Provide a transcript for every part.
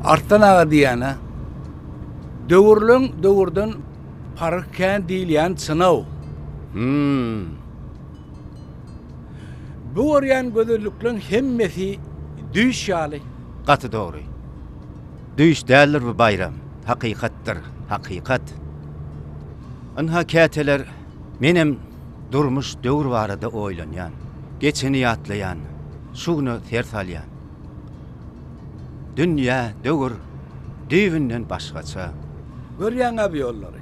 Arslan aga diýýän-ä. Döwürleň döwürden paryk kän diýilýän çyn-ow. Hümm. Bu görýän gözellikleň hemmesi düýş ýaly. Gaty dogry. Düýş däldir bu baýram, hakykatdyr, hakykat. Ynha, käteler menem durmuş, döwür barada oýlanýan. Geçeni ýatlaýan, şu güne ser salýan. Dünýä, döwür düýbünden başgaça. Görýäň-ä bu ýollary.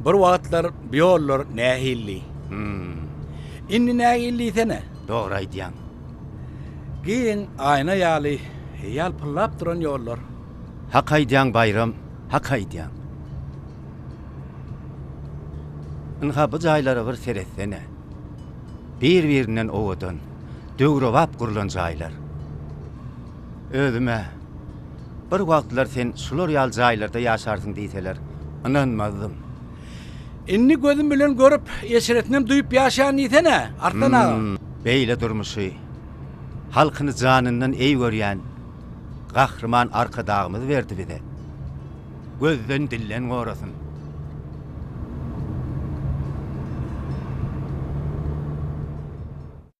Bir wagtlar bu ýollar nähildi. Indi nähili diýsene. Dogry aýdýaň. Giň aýna ýaly ýalpyldap duran ýollar. Hak aýdýaň Baýram, hak aýdýaň. Ynha bu jaýlara bir seretsene. Bir-birinden owadan, döwrebap gurlan jaýlar. Özüm-ä, bir wagtlar sen şular ýaly jaýlarda ýaşarsyň diýseler, ynanmazdym. Indi gözüm bilen görüp, eşretinem duýup ýaşaýan diýsene, Arslan aga. Beýle durmuşy, halkyny janyndan eý görýän Gahryman Arkadagymyz berdi bize. Gözden, dilden gorasyn.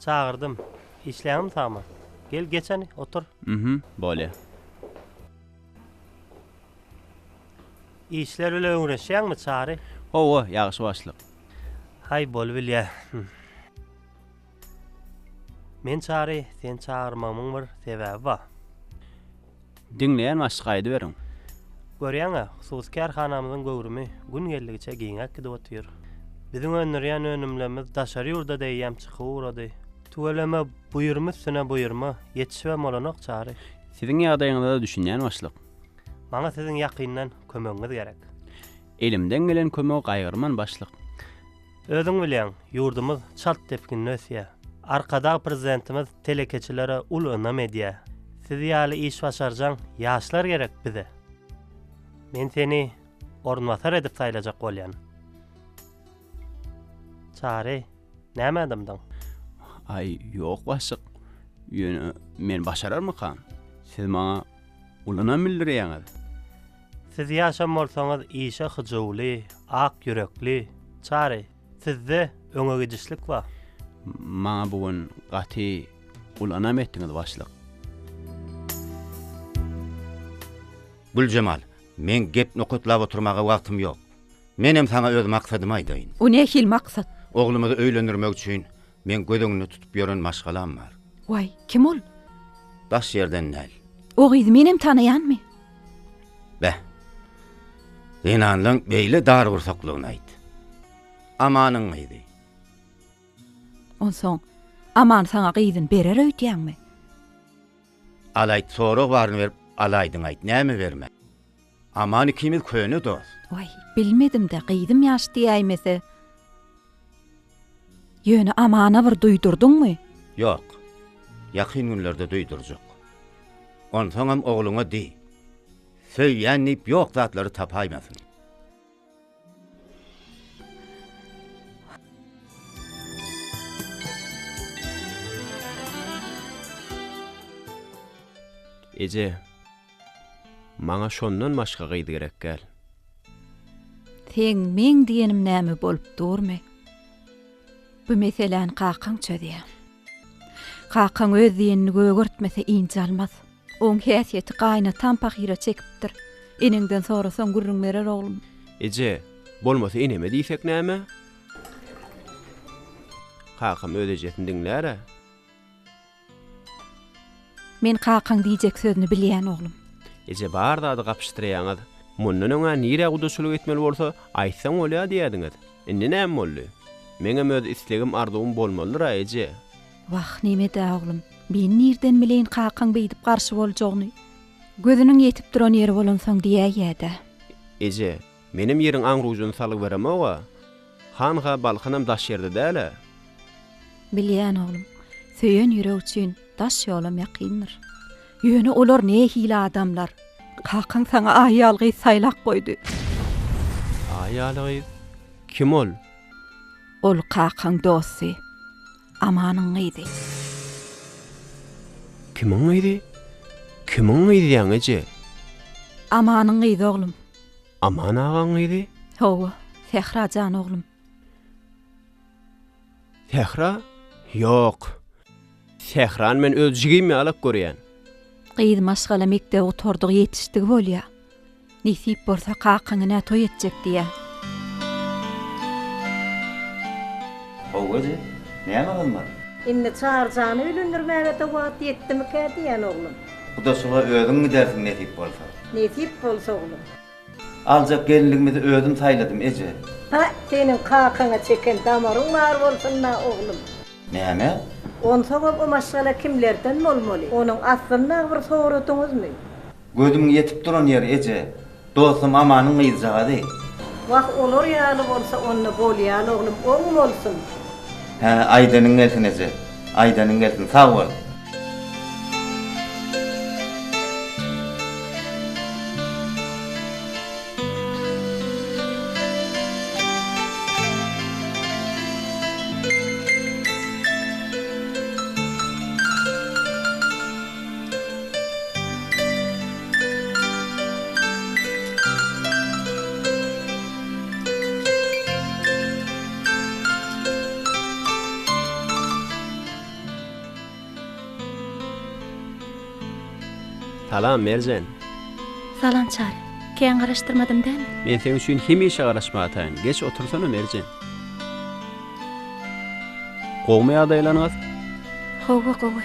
Çagyrdym. Işleňmi Samy? Gel geçeni, otur. Mh, bolýa. Işler bilen öňreşýäňmi Çary? Hawa, ýagşy başlyk. Haý, bolubilýä. Men Çary, seni çagyrmagymyň bir sebäbi bar. Diňleýän başlyk aýdyberiň. Görýäňä, hususy kärhanamyzyň göwrümi gün geldigiçe giňäp gidip otyr. Biziň öndürýän önümlerimiz daşary ýurda deýýäm çykyp ugrady. Tüweleme, buýurma üstüne buýurma, ýetişibem bolanok Çary. Siziň ýagdaýyňyza-da düşünýän başlyk. Maňa siziň ýakyndan kömegiňiz gerek. Elimden gelen kömegi gaýgyrman başlyk. Özüň bilýäň, ýurdumyz çalt depginde ösýär. Arkadag Prezidentimiz telekeçilere uly ynam edýär. Siz ýaly iş başarjaň ýaşlar gerek bize. Men seni orunbasar edip saýlajak bolýan. Çary, näme dymdyň? Aý, ýok başlyk. Ýöne men başararmykam? Siz maňa uly ynam bildirýäňiz. Siz ýaşan bolsaňyz işe hyjuwly, ak ýürekli, Çary, sizde öňe gidişlik bar. Maňa bu gün gaty uly ynam etdiňiz başlyk. Güljemal, meň gep nokatlap oturmaga wagtym ýok. Menem saňa öz maksadymy aýdaýyn. O nähili maksat? Oglumyzy öýlendirmek üçin Meň göz öňünde tutup ýören maşgalam bar. Waý, kim ol? Daş ýerden däl. O gyzy menem tanaýanmy? Beh. Zenanlaň beýle dargursaklygyny aýt. Amanyň gyzy. Onsoň, Aman saňa gyzyny berer öýdýäňmi? Al aýt, sorag baryny berip, alaýdyň aýt, näme bermän? Aman ikimiz köne dost. Waý, bilmedim-dä, gyzym ýaş diýäýmese. Ýöne Amana bir duýdurdyňmy? Ýok. Ýakyn günlerde duýdurjak. Onsoňam ogluňa diý. Söýýän diýip ýok zatlary tapaýmasyn. Eje, maňa şondan başga gyz gerek däl. Seň meň diýenim näme bolup durmy? Bu meseläni kakaň çözýä. Kakaň öz diýenini gögertmese ynjalmaz. Oň häsiýeti gaýynataň pahyra çekipdir. Eneňden sorasaň gürrüň berer oglum. Eje, bolmasa eneme diýsek näme? Kakam öz ejesini diňlär-ä. Men kakaň diýjek sözüni bilýän oglum. Eje bar zady gapyşdyraýaňyz. Mundan öň-ä nirä gudaçylyk etmeli bolsa, aýtsaň bolýa diýýädiňiz. Indi näme boldy? Meňem öz islegim-arzuwym bolmalydyr-a eje. Wah, neme-dä, oglum, men nirden bileýin kakaň beýdip garşy boljagyny. Gözüniň ýetip duran ýeri bolansoň diýäýýä-dä. Eje, menem ýeriň aň-rujuny salyberemog-a. Hanha Balkanam daş ýerde däl-ä. Bilýän, oglum. Söýen ýürek üçin daş ýolam ýakyndyr. Ýöne olar nähili adamlar? Kakaň saňa aýal gyz saýlap goýdy. Aýal gyz? Kim ol? Ol kakaň dosty. Amanyň gyzy. Kimiň gyzy? Kimiň gyzyaň eje? Amanyň gyzy oglum. Aman agaň gyzy? Hawa, Sähra jan oglum. Sähra? Ýok. Sährany men öz jigim ýalak görýän. Gyz maşgala mekdebi gutardygy ýetişdigi bolýa. Nesip bolsa kakaňinä toý etjek diýä. How özi näme gymmat. Indi Çaryjany öýlendirmägede wagt ýetdimikä diýýän oglum. Gudaçyga özüň gidersiň nesip bolsa. Nesip bolsa oglum. Aljak gelinligimizi özüm saýladym eje. Pä seniň kakaňa çeken damaryň bar bolsunda oglum. Näme? Onsoňam o maşgala kimlerden bolmaly? Onuň aslynda bir soradyňyzmy? Gözümiň ýetip duran ýeri eje. Dostum Amanyň gyzjagazy. Wah olar ýaly bolsa onda bolýan oglum oň bolsun. Hä aýdanyň gelsin eje. Aýdanyň gelsin sag bol. Salam Merjen. Salam Çary. Kän garaşdyrmadym dämi? Men seň üçin hemişe garaşmataýyn. Geç otursana Merjen. Gowmy ýagdaýlaryňyz? Hawa gowy.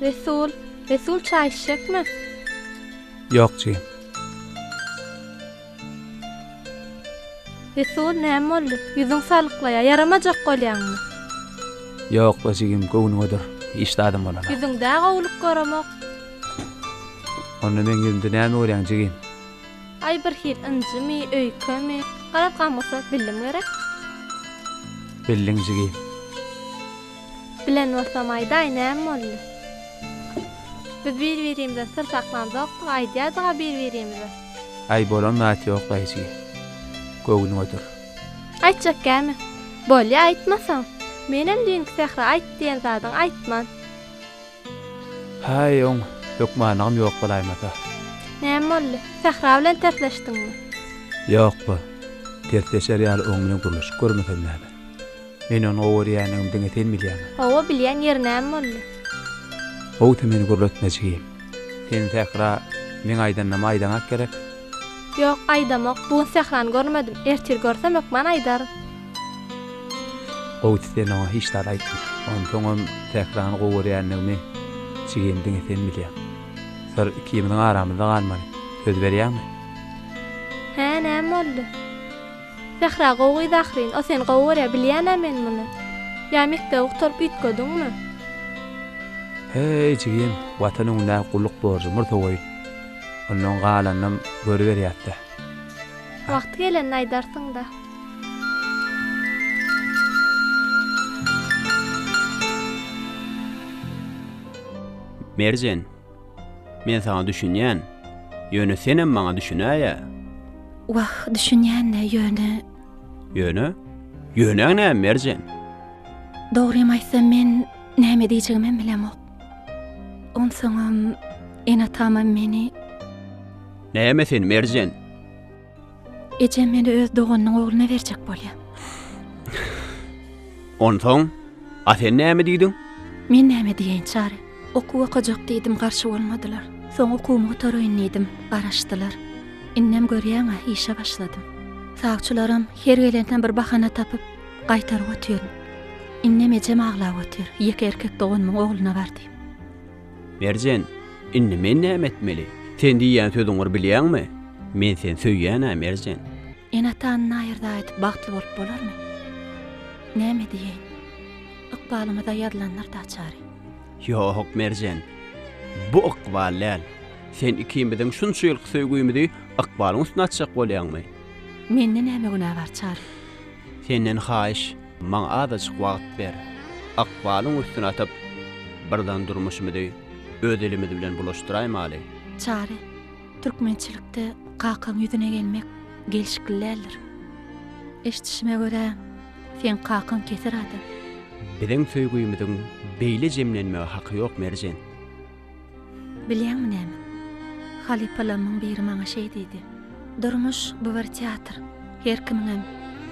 Resul, Resul çaý içjekmi? Ýok, jigim. Resul, näme boldy? Ýüzüň salyklaýar. Ýaramajak bolýaňmy? Ýok-la, jigim, göwnüňedir. Hiç zadam bolan. Ýüzüňde-ä gowulyk göremok. Onda meň ýüzümde näme görýäň, jigim? Aý, birhili ynjymy, öýkemi? Garaz, gamgysy, bildim gerek? Bildiň, jigim. Bilen bolsam, aýdaý, näme boldy? Biz bir-birimizden syr saklanjak, aýdýardyg-a bir-birimize. Aý bolan zat ýok daýyjy. Göwnüň otur. Aýtjak käme. Bolýa aýtmasaň. Menem düýnki Sähra aýt diýen zadyň aýtman. Haý oň hökmanygam ýok bolaýmasa. Näme boldy? Sähra bilen tersleşdiňmi? Ýokba. Tersleşer ýaly oň bilen gürleşip görmesem näme. Men ony gowy görýändigimi diňe sen bilýäň. Gowy bilýän ýeri näme boldy? Gowy sen meni gürletme jigim. Sen sähra meň aýdanymy aýdaňak gerek. Ýok aýdamok bugun sährany görmedim ertir görsem hökman aýdaryn. Gowusy sen oňa hiç zat aýtma. Onsoňam sährany gowy görýändigimi jigim diňe sen bilýäň. Syr ikimiziň aramyzda galmaly. Söz berýäňmi? Hä näme boldy. Sähra gowy gyz ahyryn o seni gowy görýä bilýänä men muny. Ýa mekdebi gutaryp üýtgediňmi. Heý jigim watan öňündä gulluk borjy murta goýun. Ondan galanynam görüberýäsdä. Wagty gelende aýdarsyňda. Merjen. Men saňa düşünýän. Ýöne senem maňa düşünäýe. Wah, düşünýän-le, ýöne. Ýöne? Ýönäň näme, Merjen? Dogrymy aýtsam, men näme diýjegimem bilemok. Onsoňam, ene-atamam meni. Näme sen, Merjen? Ejem meni öz doganynyň ogluna berjek bolýar. Onsoň, a sen näme diýdiň? Men näme diýeýin, Çary? Okuw okajak diýdim, garşy bolmadylar. Soň okuwymy gutaraýyn diýdim, garaşdylar. Indem görýäň-ä, işe başladym. Sawçylaram her gelende bir bahana tapyp, gaýtaryp otyryn. Indem ejem aglap otyr, ýeke erkek doganymyň ogluna bar diýip. Merjen, Indi men näme etmeli? Sen diýýän sözüňir bilýäňmi? Men sen söýýän-ä, Merjen. Ene-atany naýyrda aýdyp bagtly bolup bolarmy? Näme diýeýin? Ykbalymyza ýazylandyr-da çary. Ýok, Merjen. Bu ykbal däl. Sen ikimiziň şunça ýylky söýgümizi ykbalyň üstüne atjak bolýaňmy? Mende näme günä bar çary? Senden haýyş. Maňa azajyk wagt ber. Ykbalyň üstüni atyp, birden durmuşymyzy öz elimiz bilen bulaşdyraýmaly. Çary, türkmençilikde kakaň ýüzüne gelmek gelşikli däldir. Eşdişime görä, seň kakaň keser adam. Biziň söýgümiziň beýle jemlenmege haky ýok, Merjen. Bilýäňmi näme? Halypalarymyň biri maňa şeý diýdi, Durmuş, bu bir teatr. Her kimiňem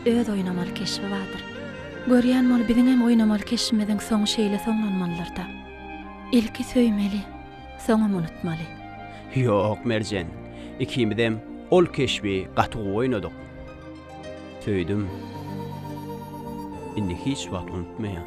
öz oýnamaly keşbi bardyr. Görýän bol, biziňem oýnamaly keşbimiziň soňy şeýle soňlanmalydyr-da. Ilki söýmeli, soňam unutmaly. Ýok, Merjen. Ikimizem ol keşbi gaty gowy oýnadyk. Söýdüm. Indi hiç wagt unutmaýan.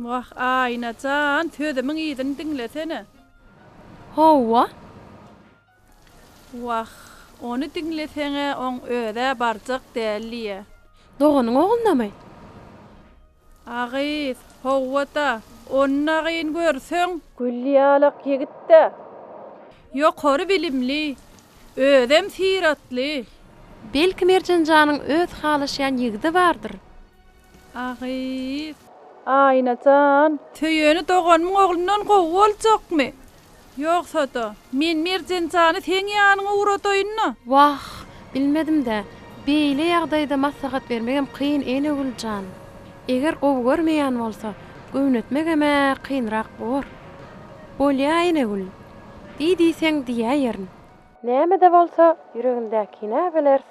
Wah Aýna jan sözümiň yzyny diňlesene. Howwa. Wah ony diňleseňä oň özä barjak däl diýýä. Doganyň oglunamy? A gyz, Howwa-da, onnaýyn görseň. Gül ýalak ýigit-dä. Ýokary bilimli, özem syratly. Belki Merjen janyň öz halaşýan ýigidi bardyr? A gyz. Aýna jan. Söýeni doganymyň oglundan gowy boljakmy? Ýogsa-da, men Merjenjany seň ýanyňa ugradaýyn-da. Wah, bilmedim-dä. Beýle ýagdaýda maslahat bermegem kyn, Enegül jan. Eger gowy görmeýän bolsa, göwnetmegem-ä kynrak bor. Bolýa, Enegül. Diý diýseň, diýäýerin. Näme-de bolsa, ýüregindäkini-ä bileris.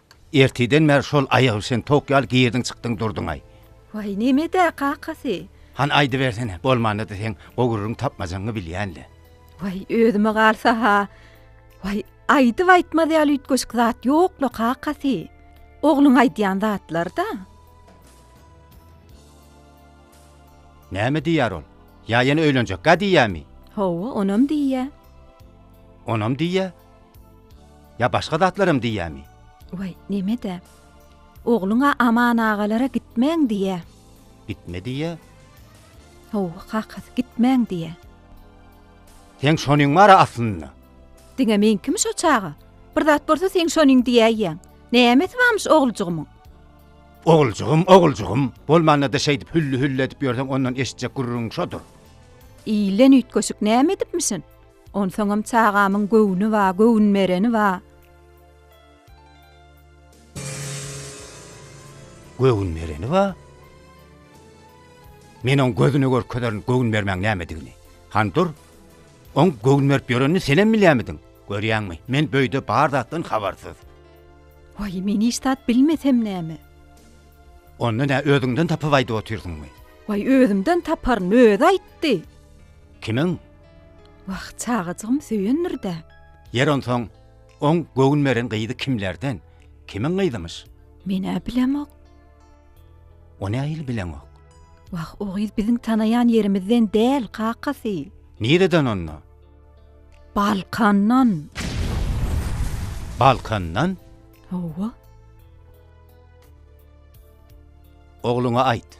Ertirden bäri şol aýagöwşen towuk ýaly girdiň-çykdyň durduň-aý. Waý, neme-dä, kakasy? Hany aýdybersene, bolmanda-da seň gowurryň tapmajaňy bilýän-le. Waý, özüme galsa-ha, waý, aýdyp aýtmaz ýaly üýtgeşik zat ýok-la, kakasy. Ogluň aýdýan zatlar-da. Näme diýýär ol? Ýa ýene öýlenjek-gä diýýämi? Hawa, onam diýýä. Onam diýýä? Ýa başga zatlaram diýýämi? Waý, neme-dä. Ogluň-a Aman agalara gitmäň diýýä. Gitme diýýä? Hawa, kakasy, gitmäň diýýä. Seň şonyň bar-a aslynda? Diňe meňkimi şo çaga? Bir zat bolsa seň şonyň diýäýýäň. Nämesi barmyş oglujygymyň? Oguljygym, oguljygym. Bolmanda-da şeýdip hülli-hülli edip ýörseň ondan eşitjek gürrüň şodur. Ilden üýtgeşik näme edipmişin? Onsoňam çagamyň göwni ba, göwün bereni ba. Göwün bereni ba? Men oň gözüne görkezerin göwün bermäň nämedigini. Han dur. Oň göwün berip ýörenini senem bilýämidiň? Görýäňmi, men böýde bar zatdan habarsyz. Waý, men hiç zat bilmesem näme? Onda nä özüňden tapyp aýdyp otyrsyňmy? Waý, özümden taparyn, özi aýtdy. Kimiň? Wah, çagajygym söýendir-dä. Ýeri onsoň, oň göwün beren gyzy kimlerden, kimiň gyzymyş? Men-ä bilemok. O nähili bileňok? Wah, o gyz biziň tanaýan ýerimizden däl, kakasy. Nireden onda? Balkandan. Balkandan? Hawa. Ogluňa aýt.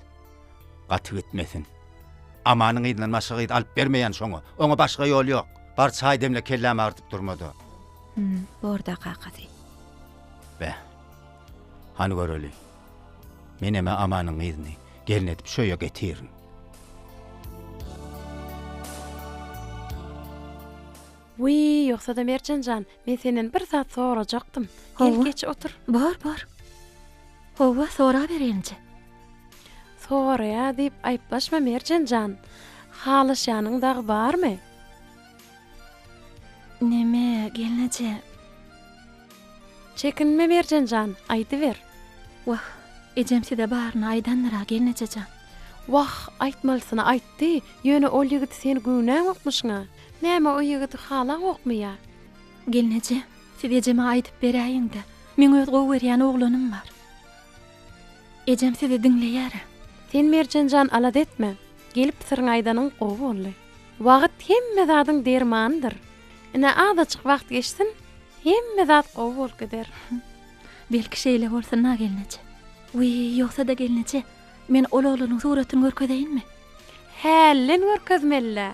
Gaty gitmesin. Amanyň yzyndan başga gyz alyp bermeýän şoňa. Oňa başga ýol ýok. Bar çaý demle kellämi agyrdyp durmada. Hum, bor-da kakasy. Beh. Hany göreli. Menem-ä Amanyň yzyny gelin edip şu öýe getirin. Wiý, ýogsa-da Merjen jan, men senden bir zat sorajakdym. Gel, geç otur. Bor, bor. Howwa, sorabereýinje. Soraýa diýip aýyplaşma, Merjen jan. Halaşýanyň dagy barmy? Neme, gelneje? Çekinme, Merjen jan, aýdyber. Wah, ejem size baryny aýdandyr-a, gelneje jan. Wah, aýtmalysyny aýtdy, ýöne ol ýigit sen göwnäňokmyşyň-a. Näme o ýigidi halaňokmy ýa? Gelneje, siz ejeme aýdyp beräýiň-de, meň öz gowy görýän oglanym bar. Ejem sizi diňleýär-ä. Sen Merjen jan alada etme. Gelip syryňy aýdanyň gowy boldy. Wagt hemme zadyň dermanydyr. Ine azajyk wagt geçsin, hemme zat gowy bolup gider. Belki şeýle bolsun-a gelneje. Wiý, ýogsa-da gelneje, men ol oglanyň suratyny görkezeýinmi? Hälden görkezmeli-dä.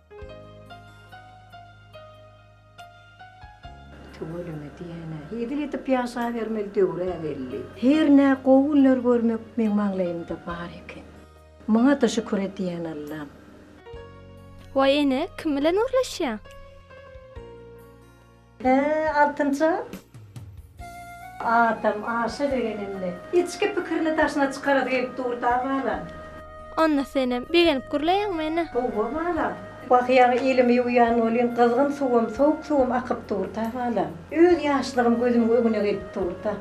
Tüweleme diýen-ä. Edil edip ýaşabermeli döwür-ä belli. Her nä gowy günler görmek meň maňlaýymda bar eken. Muňa-da şükür edýän Allam. Waý ene, kim bilen gürleşýäň? He, altynja. Adam aşa begenende, içki pikirini daşyna çykarasy gelip dur-da, balam. Onda senem begenip gürleýäň meni. Howwa, balam. Bakýaň, elimi ýuwýan welin, gyzgyn suwum, sowuk suwum akyp dur-da, balam. Öz ýaşlygym gözümiň öňüne gelip dur-da.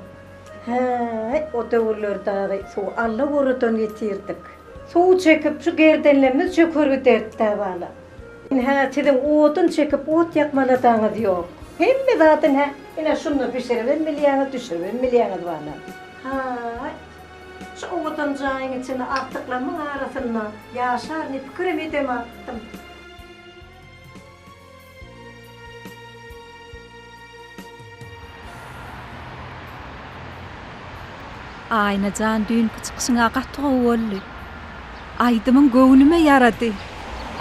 Häý, o döwürler dagy suwy Alla goradan getirdik. Suw çekip, şu gerdenlerimiz çöker giderdi-dä, balam. Ine-hä siziň odun çekip ot ýakmalasaňyz ýok. Hemme zat ine, ine şunda bişiribem bilýäňiz, düşüribem bilýäňiz bana. Haý, şu owadan jaýyň içinde agtyklamyň arasynda ýaşar diýip pikirem edemapdym. Aýna jan düýnki çykyşyň a gaty gowy boldy. Aýdymyň göwnüme ýarady.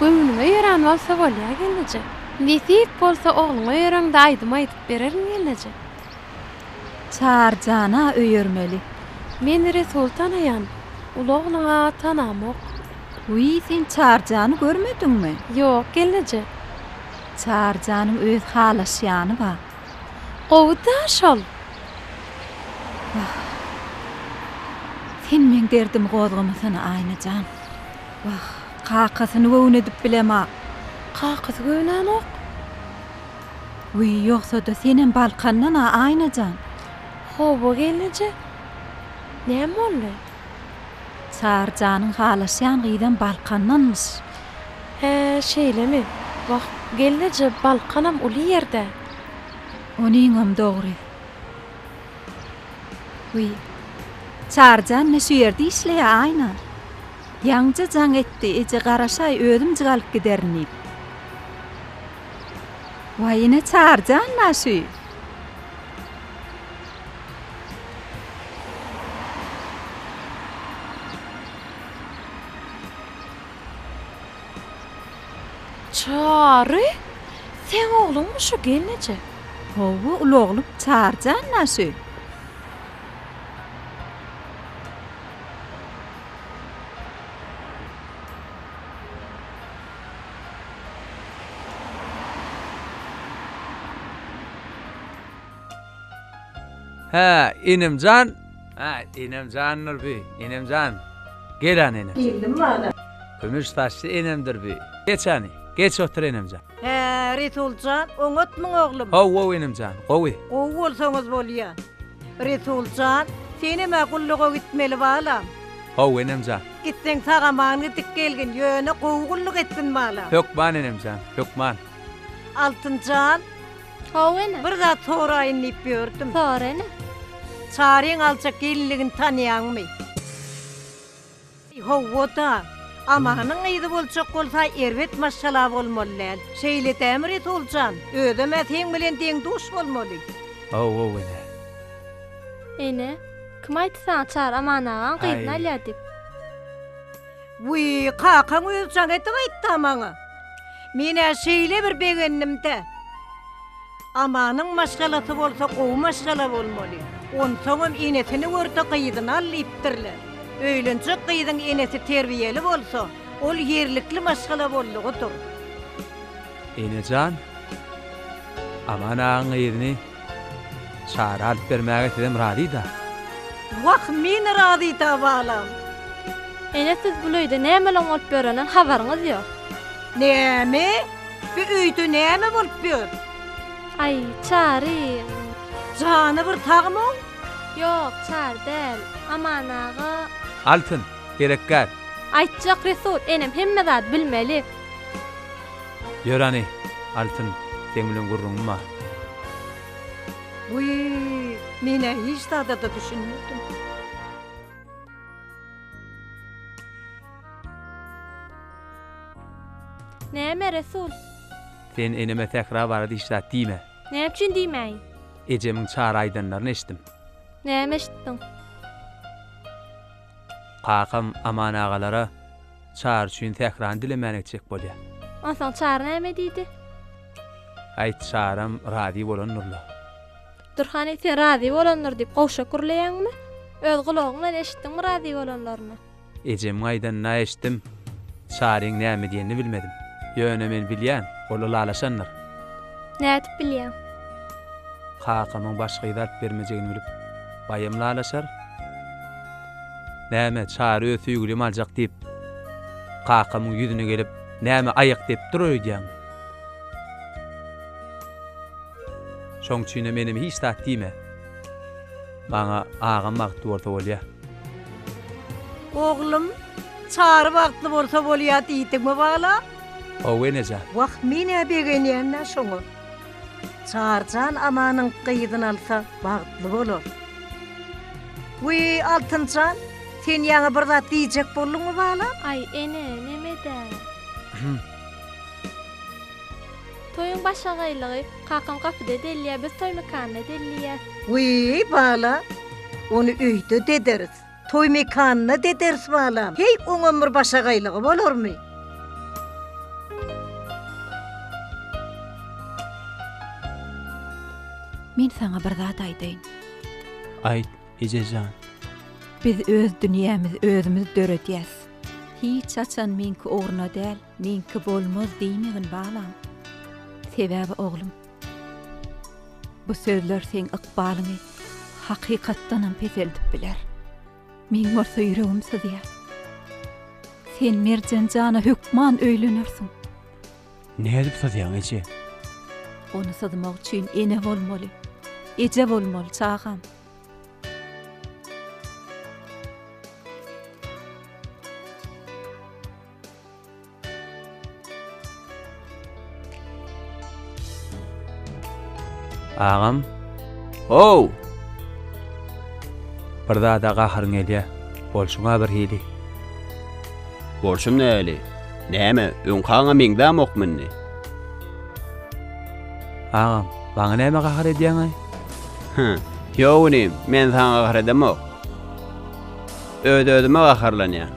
Göwnüme ýöran bolsa bolýa gelneje. Nesip bolsa ogluňa ýöreňde aýdym aýdyp bererin gelneje. Çary jana öýermeli. Men Resul tanaýan, uly ogluňa tanamok. Wiý sen Çary jany görmediňmi. Ýok gelneje. Çary janyň öz halaşýany bar. Gowy-da şol. Wah. Sen meň derdimi gozgamasana, Aýna jan. Wah, kakasyny göwün edip bilemok. Kakasy göwnänok. Wiý, ýogsa-da senem Balkandan-a, Aýna jan. Hawa, gelneje. Näme boldy? Çary janyň halaşýan gyzam Balkandanmyş. Hä, şeýlemi? Wah, gelneje, Balkanam uly ýer-dä. Onyňam dogry. Wiý, Çary jan ne şu ýerde işleýä, Aýna? Ýaňja jaň etdi, eje garaşaý, özümjik alyp giderin diýip. Waý, ine Çary jan-la şu. Çary, seň ogluňmy şu gelneje? Hawa, uly oglum, Çary jan naşy. Hä, enemjan. Hä, enemjandyr bi, enemjan. Gel-ä, enem. Geldim wada. Kümüş saçly enemdir bi. Geç-ä, geç otur, enemjan. Hä, Resuljan, oňatmyň, oglum? Haw-ow, enemjan, gowy. Gowy bolsaňyz bolýa. Resuljan, senem-ä gulluga gitmeli, balam. Haw, enemjan. Gitseň, sag-aman gidip gelgin, ýöne gowy gulluk etgin, balam. Hökman, enemjan, hökman. Altynjan. Hawa ene. Bir zat soraýyn diýip ýördüm. Sora ene. Çaryň aljak gelinligini tanaýaňmy? Hawa-da. Amanyň gyzy boljak bolsa erbet maşgala bolmaly däl. Şeýle dämi Resul jan? Özem-ä seň bilen deň-duş bolmaly. Hawa ene. Ene, kim aýtdy saňa Çary Aman agaň gyzyny alýar diýip? Wiý, kakaň özi jaň edip aýtdy-a maňa. Men-ä şeýle bir begendim-dä. Amanyň maşgalasy bolsa gowy maşgala bolmaly. Onsoňam enesini görse gyzyny al diýipdirler. Öýlenjek gyzyň enesi terbiýeli bolsa, ol ýerlikli maşgala boldugydyr. Enejan, Aman agaň gyzyny Çary alyp bermäge sizem razyda. Wah meni razyta balam. Ene siz bul öýde nämelon bolup ýörenden habaryňyz ýok. Näme? Bu öýde näme bolup ýör? Aý Çary. Jany bir sagmyň? Ýok Çary däl. Aman aga. Altyn, gerekgär. Aýtjak Resul enem hemme zady bilmeli. Ýör hany, Altyn, seň bilen gürrüňim bar. Wiý, men-ä hiç zada-da düşünmedim. Näme, Resul? Sen eneme sähra barada hiç zat diýme. Näme üçin diýmäýin? Ejemiň çar aýdanlaryny eşitdim. Näme eşitdiň? Kakam Aman agalara Çary üçin sährany dilemäne gitjek bolýar. Onsoň Çary näme diýdi? Aýt, Çaram razy bolandyr-la. Dur hany, sen razy bolandyr diýip gowşak gürleýäňmi? Öz gulagyň bilen eşitdiňmi razy bolanlaryny? Ejemiň aýdanyny-a eşitdim. Çaryň näme diýenini bilmedim. Ýöne men bilýän, ol ylalaşandyr. Nädip bilýäň? Kakamyň başga gyz alyp bermejegini bilip, baýam ylalaşar. Näme, Çary öz söýgülimi aljak diýip, kakamyň ýüzüne gelip, näme aýak dep dur öýdýäňmi? Şoň üçinem enem hiç zat diýme. Maňa agam bagtly bolsa bolýa. Oglum, Çary bagtly bolsa bolýa diýdiňmi bala? Hawa, enejan. Wah, men-ä begenýän-dä şoňa. Çarjan Amanyň gyzyn alsa bagtly bolar. Wiý, Altynjan, sen ýaňy bir zat diýjek bolduňmy balam? Aý, ene, neme-dä? Toýuň başagaýlygy, kakam gapyda delýär, biz toý mekanyna delýäs. Wiý, bala, ony öýde dederis. Toý mekanyna dederis balam. Heý, oňam bir başagaýlygy bolarmy? Men saňa bir zat aýdaýyn. Aýt, eje jan. Biz öz dünýämizi özümiz döredýäs. Hiç haçan meňki ugruna däl, meňki bolmaz diýmegin balam. Sebäbi oglum, Bu sözler seň ykbalyňy hakykatdanam peseldip biler. Meň bolsa ýüregim syzýar. Sen Merjen jana hökman öýlenersiň. Nädip syzýaň, eje? Ony syzmak üçin ene bolmaly. Eje bolmaly, çagam. Agam. Ow! Bir zada gaharyň gelýä. Bolşuňa bir hili. Bolşum näli? Näme, öňkaňa meňzämokmy indi? Agam, maňa näme gahar edýäňaý? Hä, ýok inim, men saňa gahar edemok. Öz-özüme gaharlanýan.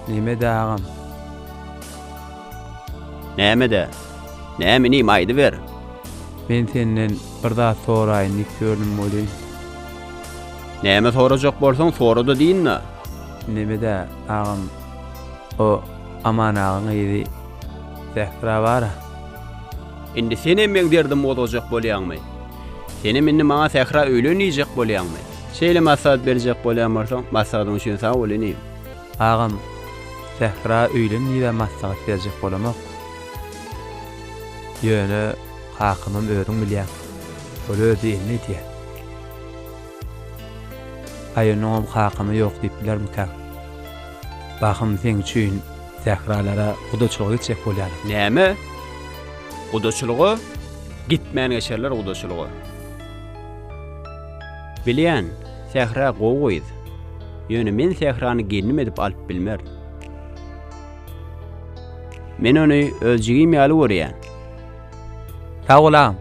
Nämede agam? Nämede? Näme inim aýdyber. Men senden bir zat soraýyn diýip ýördüm welin. Näme sorajak bolsaň sorada diýinna. Nämede agam o Aman agaň gyzy Zähra bara. Indi senem meň derdim gozgajak bolýaňmy? Senem indi maňa Sähra öýlen diýjek bolýaňmy? Şeýle maslahat berjek bolýan bolsaň maslahatyň üçin sag bol inim. Agam Sähra öýlen diýibä maslahat berjek bolamok. Ýöne kakamam özüň bilýäň. Ol özi elini edýär. Aýunuňam kakamy ýok diýip bilermikäň? Bahym seň üçin Sähralara gudaçylyga gitjek bolýarlar. Näme? Gudaçylyga? Gitmän geçerler gudaçylyga. Bilýän, Sähra gowy gyz. Ýöne men Sährany gelnim edip alyp bilmer. Men ony öz jigim ýaly görýän. Sag bol agam.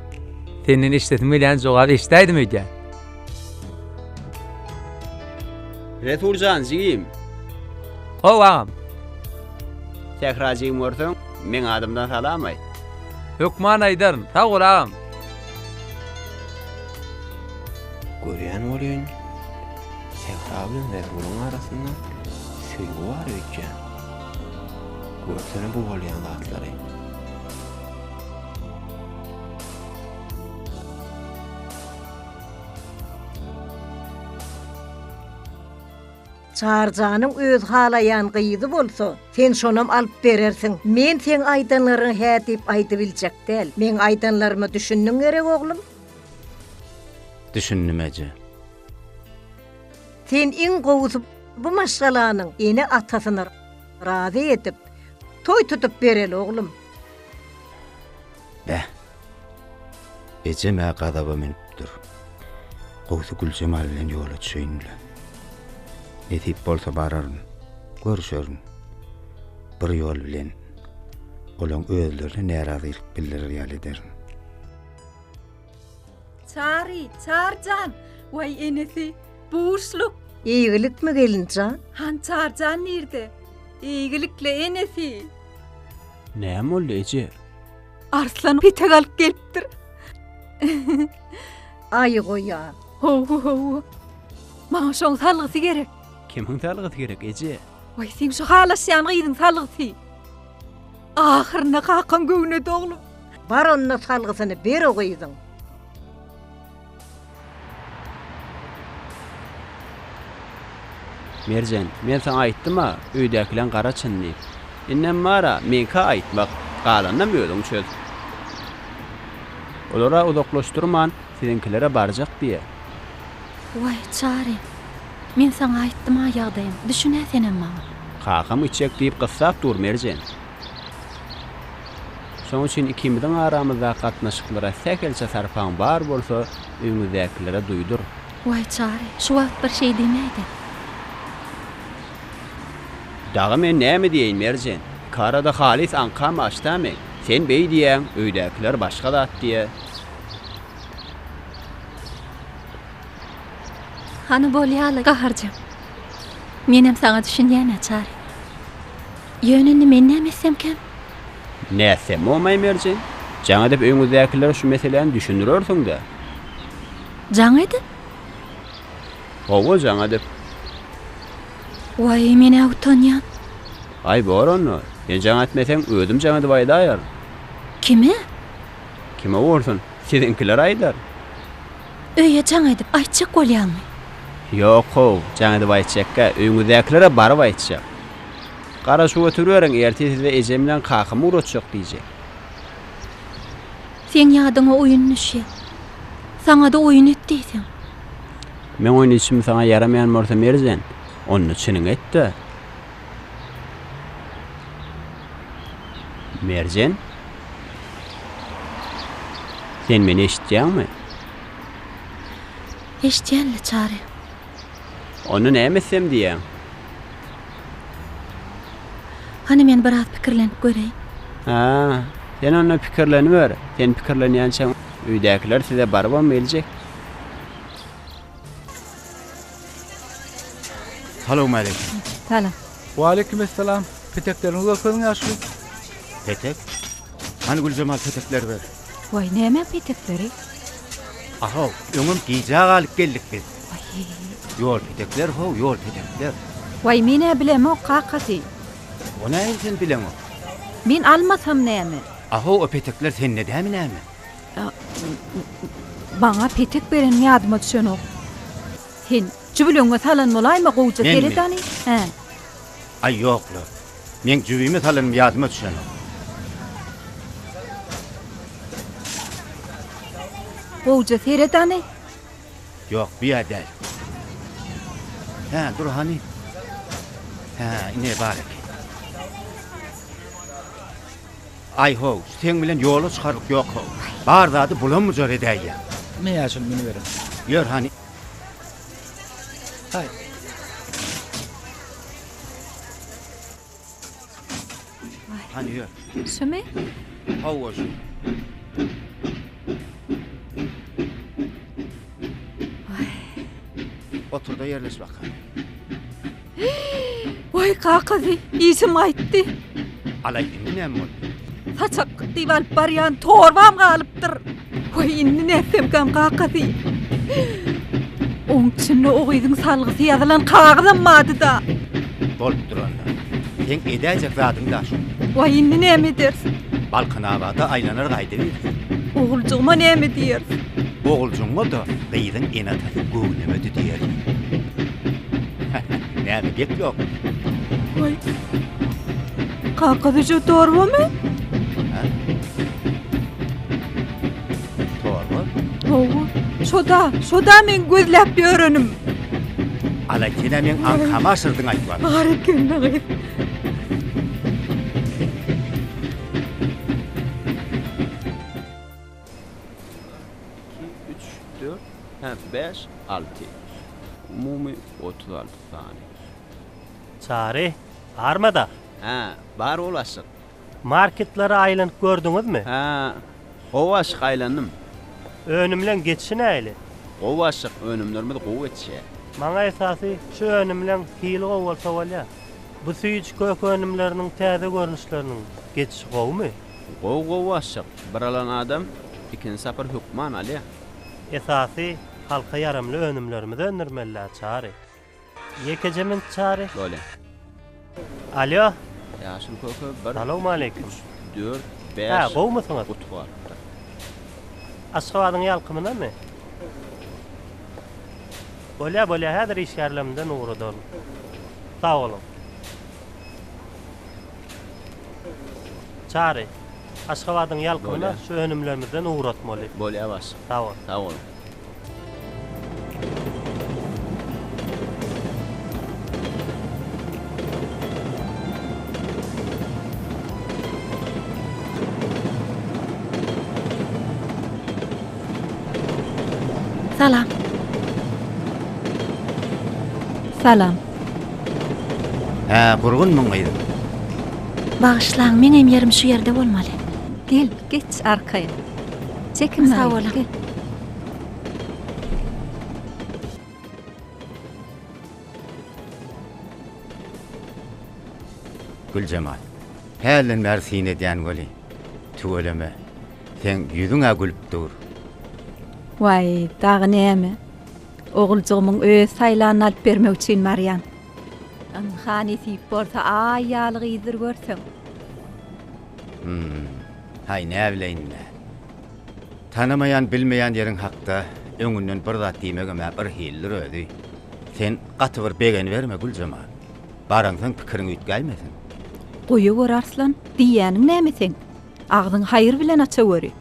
Senden eşidesim gelýän jogaby eşidäýdim öýdýän. Resul jan jigim. How agam. Sähra jigim görseň, meň adymdan salam aýt. Hökman aýdaryn. Sag bol agam. Görýän welin, Sähra bilen Rezgulyň arasynda söýgi bar öýtýän. Görsene bu bolýan zatlary. Çarjanyň özi halaýan gyzy bolsa, sen şonam alyp berersiň. Men seň aýdanlaryňy hä diýip aýdybiljek däl. Meň aýdanlaryma düşündiň gerek, oglum? Düşündim, eje. Sen iň gowusy bu maşgalanyň ene-atasyny razy edip, toý tutup bereli, oglum. Beh! Ejem-ä gazaba münüpdir. Gowusy Güljemal bilen ýola düşeýin-le. Nesip bolsa bararyn, görüşerin. Bir ýol bilen, olaň özlerine närazylyk bildirer ýaly ederin. Çary, Çarjan! Waý enesi, buşluk! Eýgilikmi gelinjan? Han Çarjan nirde? Eýgilikle enesi! Näme boldy eje? Arslan petek alyp gelipdir. Aýy goýan. Hawa, hawa. Maňa şoň salgysy gerek. Kimiň salgysy gerek eje? Waý seň şo halaşýan gyzyň salgysy. Ahyrynda kakaň göwnedi oglum. Bar onda salgysyny ber o gyzyň. Merjen, men saňa aýtdym-a, öýdäkileň gara çyn diýip. Indem bar-a, meňkä aýtmak, galanynam özüň çöz. Olar-a uzaklaşdyrman, Siziňkilere barjak diýe. Waý, Çary, men saňa aýtdym-a ýagdaýym, düşün-ä senem maňa. Kakam içjek diýip gyssap dur, Merjen. Şonuň üçin ikimiziň aramyzdaky gatnaşyklara sähelçe sarpaň bar bolsa, öýüňizdäkilere duýdur. Waý, Çary, şu wagt bir şey diýmäý-de. Dagy men näme diýeýin, Merjen? Iki arada halys aňkam aç-da men. Sen beý diýýäň, öýdäkiler başga zat diýýä. Hany bolýa-la, Gahar jan. Menem saňa düşünýän naçary. Ýöne indi men näme etsemkäm? Nätsemmi, Maýmerjen? Jaň edip öýüňizdäkilere şu meseläni düşündirersiň-dä. Jaň edip? Hawa, jaň edip. Waý, men-ä utanýan. Aý, bor onda. Sen jaň etmeseň, özüm jaň edip aýdaýaryn. Kime? Kime bolsun, siziňkiler aýdar. Öýe jaň edip aýtjak bolýaňmy? Ýok-how, jaň edip aýtjakka, öýüňizdäkilere baryp aýtjak. Garaşyp oturyberiň, ertir size ejem bilen kakam ugratjak diýjek. Seň ýadyňa oýun düşýär. Saňa-da oýun et diýseň. Meň oýnadşym saňa ýaramaýan bolsa Merjen, onda çynyňy et-de. Merjen? Sen meni eşitýäňmi? Eşitýän-le, Çary. Onda näme etsem diýýäň? Hany men biraz pikirlenip göreýin. Hä, sen onda pikirleniber. Sen pikirlenýänçäň öýdäkiler size barybam geljek. Salowmaleýkim. Salam. Waleýkim essalam. Petekleriňiz görkeziň ýaşuly. Petek? Hany Güljemal petekleri ber. Waý, näme petekleri? A-how, öňem gijä galyp geldik biz. Waýý. Ýol petekler how, ýol petekler. Waý, men-ä bilemok, kakasy. O näme sen bileňok? Men almasam näme? A-how, o petekler sende dämi näme? Maňa petek berenim ýadyma düşenok. Sen jübüligiňe salan bolaýma gowja seredany. Hä. Aý ýok-la. Meň jübime salanym ýadyma düşenok. Gowja seredany. Ýok, bu ýer däl. Hä, dur hany. Hä, ine bar eken. Aý-how, seň bilen ýola çykarlyk ýok-how. Bar zady bulam-bujar edäýýä. Ine ýaşuly münüberiň. Ýör hany. Haý. Hany ýör. Şumy? Hawa şu. Otur-da ýerleş bakalym. Waý kakazy, işim gaýtdy. Alaý, indi näme boldy? Saçak diýip alyp barýan torbam galypdyr. Waý, indi nätsemkäm kakazy. Oň içinde o gyzyň salgysy ýazylan kagyzam bardy-da. Bolupdyr onda. Seň edäýjek zadyň daş. Waý, indi näme ederis? Balkanabada aýlanar gaýdybersin. Oguljygyma näme diýeris? Oguljygyňa-da gyzyň ene-atasy göwnemedi diýeris. Näme gep ýok? Oý. Kaka Züje torbamy? Ha? Torba? Hawa. Şoda, şoda men gözläp ýörenim. Ala kene men aňkama aşyrdyň aýtman. Bar eken dagy. Iki, üç, dört, hä, bäş, alty. Umumy otuz alty sany. Çary, barma-da? Hä, bar ol aşyk. Marketlere aýlanyp gördüňizmi? Hä, gowy aşyk, aýlandym. Önümleň geçişi nähili? Gowy aşyk, önümlerimiz gowy geçýär. Maňa esasy şu önümleň hili gowy bolsa bolýar. Bu süýji kök önümleriniň täze görnüşleriniň geçişi gowumy? Gowy gowy aşyk, bir alan adam ikinji sapar hökman alýa. Esasy halka ýaramly önümlerimizi öndürmelidä Çary. Ýekeje minut Çary. Bolýa. Alýo. Ýaşyl köke bir. Salowmaleýkim. Üç, dört, bäş. Hä, gowumysyňyz? Guty galypdyr. Aşgabadyň ýalkymynamy? Bolýa, bolýa, häzir işgärlerimden ugradalym. Sag boluň. Çary, Aşgabadyň ýalkymyna şu önümlerimizden ugratmaly. Bolýar başlyk. Sag bol. Sag boluň. Salam. Salam. Hä, gurgun muň gyzym. Bagyşlaň, meňem ýerim şu ýerde bolmaly. Gel, geç arkaýyn. Çekinme, Sag boluň. gel. Güljemal. Hälden bäri syn edýän weli. Tüweleme. Seň ýüzüň-ä gülüp dur. Waý, dagy näme? Oguljygymyň öz saýlanyny alyp bermek üçin barýan. Ynha, nesip bolsa, Aý ýaly gyzdyr görseň. Hum, haý näbileýin-le. Tanamaýan, bilmeýän ýeriň hakda öňünden bir zat diýmegem-ä bir hilidir özi. Sen gaty bir begeniberme, Güljemal. Baransoň pikiriň üýtgäýmesin. Goýaweri, Arslan, diýýäniň näme seň? Agzyňy haýyr bilen açaweri.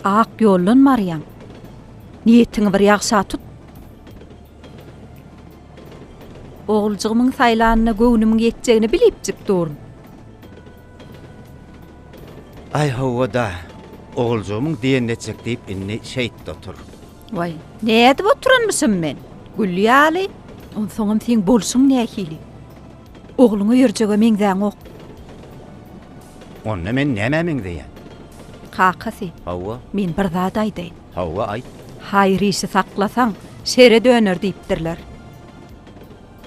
Ak ýoldan barýaň. Niýetiňi bir ýagşa tut. Oguljygymyň saýlanyna göwnümiň ýetjegini bilipjik durun. Aý, hawa-da, oguljygymyň diýenini etjek diýip indi şeýtde otur. Waý, nädip oturanmyşym men? Gül ýaly. Onsoňam seň bolşuň nähili? Ogluňa ýörjege meňzäňok. Onda men nämä meňzeýän? Kakasy. Hawa. Men bir zat aýdaýyn. Hawa, aýt. Haýyr işi saklasaň, şere döner diýipdirler.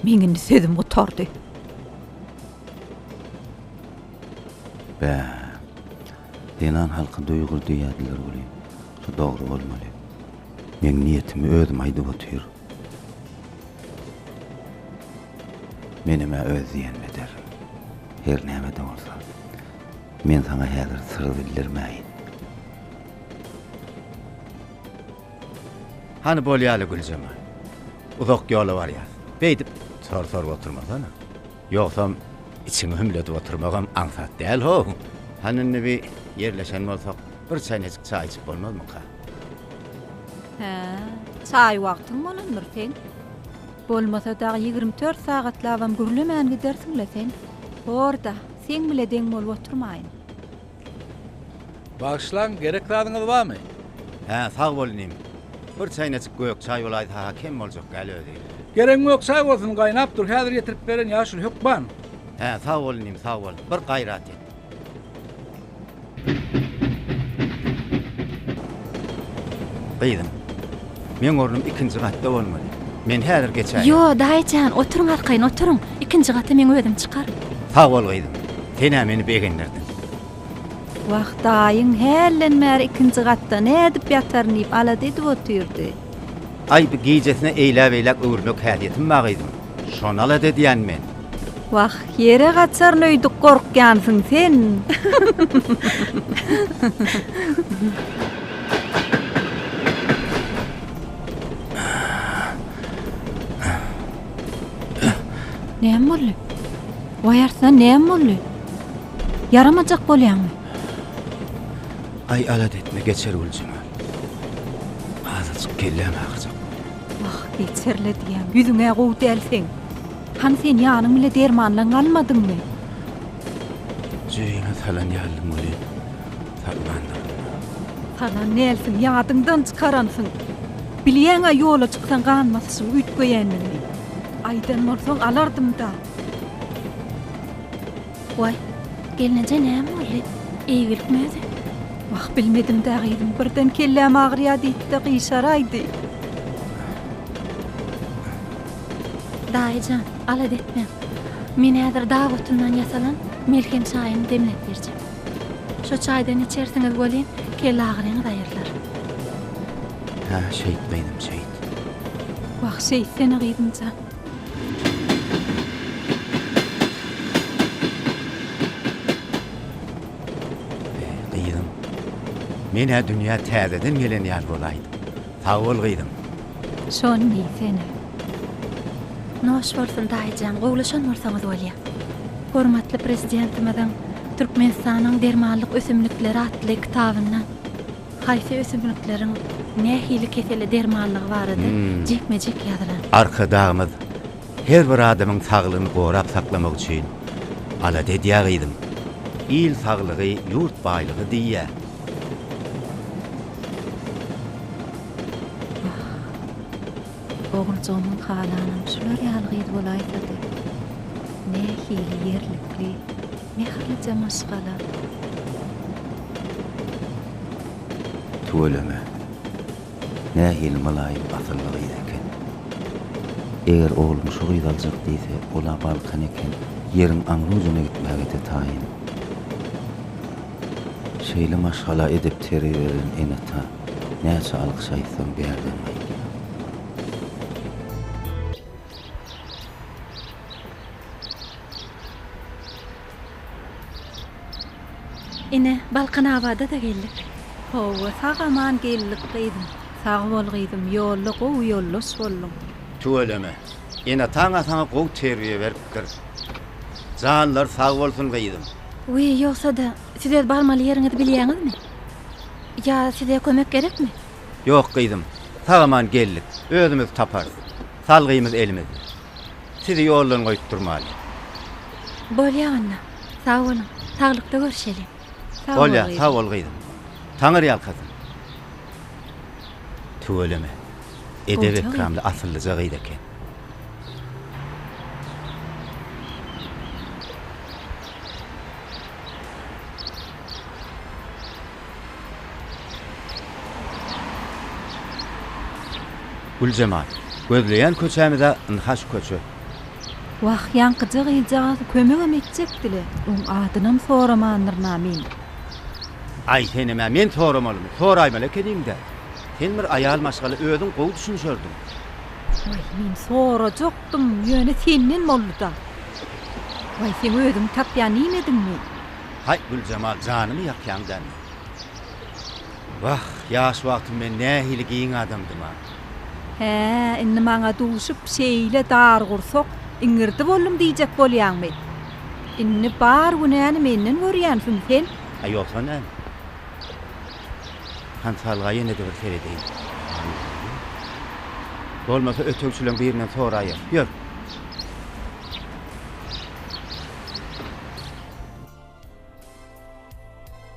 Meň indi sözüm gutardy. Bä. Zenan halky duýgur diýýärdiler welin, şu dogry bolmaly. Meň niýetimi özüm aýdyp otyr. Menem-ä öz diýenimi ederin. Her näme-de bolsa, men saňa häzir syry bildirmäýin. Hany bolýaly, Güljemal. Uzak ýola barýas. Beýdip, sor-sorup oturmasana. Ýogsam, içiňi hümledip oturmagam aňsat däl-how. Hany indi bir ýerleşen bolsak, bir çaýnajyk çaý içip bolmazmyka? Hä, çaý wagtyň bolandyr seň. Bolmasa dag ýigrimi dört sagatlabam gürlemän gidersiň-le sen. Bor-da, seň bile deň bolup oturmaýyn. Bagyşlaň, gerek zadyňyz barmy? Hä, sag bol inim. Bir çäýnejik gök çaý bolaýsa-ha kem boljak däl özi. Geregiň ýok, çaý bolsun, gaýnap dur, häzir getirip beren, ýaşuly hökman. Hä, sag bol inim, sag bol. Bir gaýrat et. Gyzym, meň ornum ikinji gatda bolmaly. Men häzir geçäýen. Ýo, daýyjan, oturyň arkaýyn, oturyň. Ikinji gata meň özüm çykaryn. Sag bol, gyzym. Sen-ä meni begendirdiň. Wah, daýyň hälden bäri ikinji gatda nädip ýataryn diýip alada edip otyrdy. Aý, bu gijesine eýläbeýläk öwürmek häsiýetim ba, gyzym. Şonal-a edýän men. Wah, ýere gaçaryn öýdüp gorkýansyň sen. Näme boldy? Waý Arslan, näme boldy? Ýaramajak bolýaňmy? Aý, alat etme, geçer Güljemal. Azajyk kelläm agyrjak. Wah, eý, serledýäň, ýüzüň-ä gowy däl seň. Hany sen ýanyň bile dermanlaň almadyňmy? Jebime salan ýaldym welin, tapmandyryn. Salan dälsiň, ýadyňdan çykaransyň. Bilýäň-ä ýola çyksaň gan basyşyň üýtgeýändigini. Aýdan bolsaň alardym-da. Waý, gelneje näme boldy? Eýgilikmi özi? Wah, bilmedim-dä, gyzym, birden kelläm agyrýar diýdi-de gyşaraýdy. Daýy jan, alada etmäň. Men häzir dag otyndan ýasalan melhem çaýyny demläp berjek. Şo çaýdan içersiňiz welin, kelle agyryňyz aýrylar. Hä, şeýtmeýdim, şeýt. Wah, şeýtsene, gyzym jan. Eý, gyzym. Men-ä dünýä täzeden gelen ýaly bolaýdym. Sag bol, gyzym. Şony diý, sen-ä. Noş bolsun, daýyjan, gowulaşan bolsaňyz bolýa. Hormatly Prezidentimiziň Türkmenistanyň dermanlyk ösümlikleri atly kitabyndan. Haýsy ösümlikleriň nähili kesele dermanlygy barada jikme-jik ýazylar. Arkadagymyz her bir adamyň saglygyny gorap saklamak üçin alada edýär gyzym. Il saglygy, ýurt baýlygy diýýär. Wah, oguljygymyň halanam şular ýaly gyz bolaýsady. Nähili ýerlikli. Mähirlije maşgala. Tüweleme. Nähili mylaýym asylly gyz eken. Eger oglum şu gyzy aljak diýse, ol-a Balkan eken, ýeriň aňrujuna gitmäge-de taýyn. Şeýle maşgala edip teribelen ene-ata näçe alkyş aýtsaň bärden gaýdýar. Ine, Balkanabada-da geldik. Howwa, sag-aman geldik, gyzym. Sag bol, gyzym, ýolda gowy ýoldaş bolduň. Tüweleme. Ene-ata-a saňa gowy terbiýe beripdir. Janlary sag bolsun, gyzym. Wiý, ýogsa-da, siz öz barmaly ýeriňizi bilýäňizmi? Ýa size kömek gerekmi? Ýok, gyzym. Sag-aman geldik. Özümiz taparys. Salgymyz elimizde. Sizi ýoldan goýup durmaly. Bolýa onda. Sag boluň. Saglykda görşeli. Sag bol, gyzym. Bolýa, sag bol, gyzym. Taňyrýalkasyn. Tüweleme. Edep-ekramly, asyllyja gyz eken. Güljemal, Gözleýän köçämiz-ä ynha şu köçe. Wah, ýaňkyja gyzjagaz kömegem etjekdi-le, oň adynam soramandyryn-a men. Aý, senem-ä men soramalymy, soraýmaly ekeniň-dä. Sen bir aýal maşgala özüň gowy düşünişerdiň. Waý, men sorajakdym, ýöne senden boldy-da. Waý, seň özüňi tapýan iýmediňmi? Haý, Güljemal, janymy ýakýaň dälmi? Wah, ýaş wagtym men nähili giň adamdym-a! Hä-ä, indi maňa duşup, şeýle dargursak, iňirdi boldum diýjek bolýaňmy? Indi bar günäni menden görýänsiň sen? A ýogsa näme? Hansalga ýene-de bir seredeýin. Bolmasa ötegçileň birinden soraýarys. Ýör!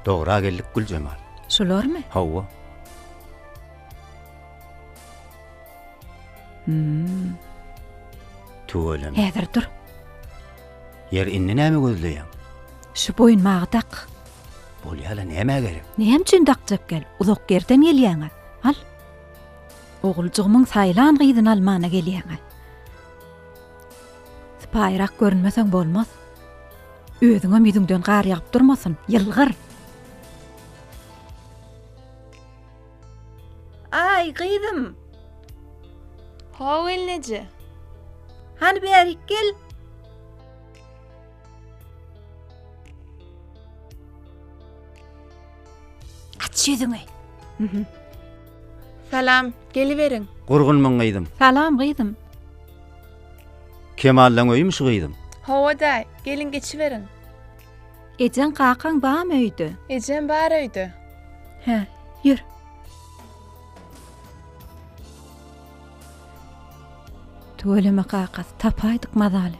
Dogra geldik Güljemal. Şularmy? Hawa. Hmm. Tüweleme. Häzir dur. Ýer indi näme gözleýäň? Şu boýunmagy dak. Bolýala näme gerek? Näme üçin dakjak gel? Uzak ýerden gelýäňä. Al. Oguljygymyň saýlan gyzyny almana gelýäňä. Sypaýyrak görünmeseň bolmaz. Özüňem ýüzüňden gar ýagyp durmasyn, ýylgyr! Aý, gyzym! Ho, gelneje! Hany bärik gel! Aç ýüzüňi. Salam, geliberiň. Gurgunmyň gyzym? Salam gyzym. Kemaldan öýümi şu gyzym? Hawa-daý, geliň geçiberiň. Ejeň kakaň bamy öýde? Ejem bar öýde. Hä, ýör. Tüweleme kakasy, tapaýdyk mazaly.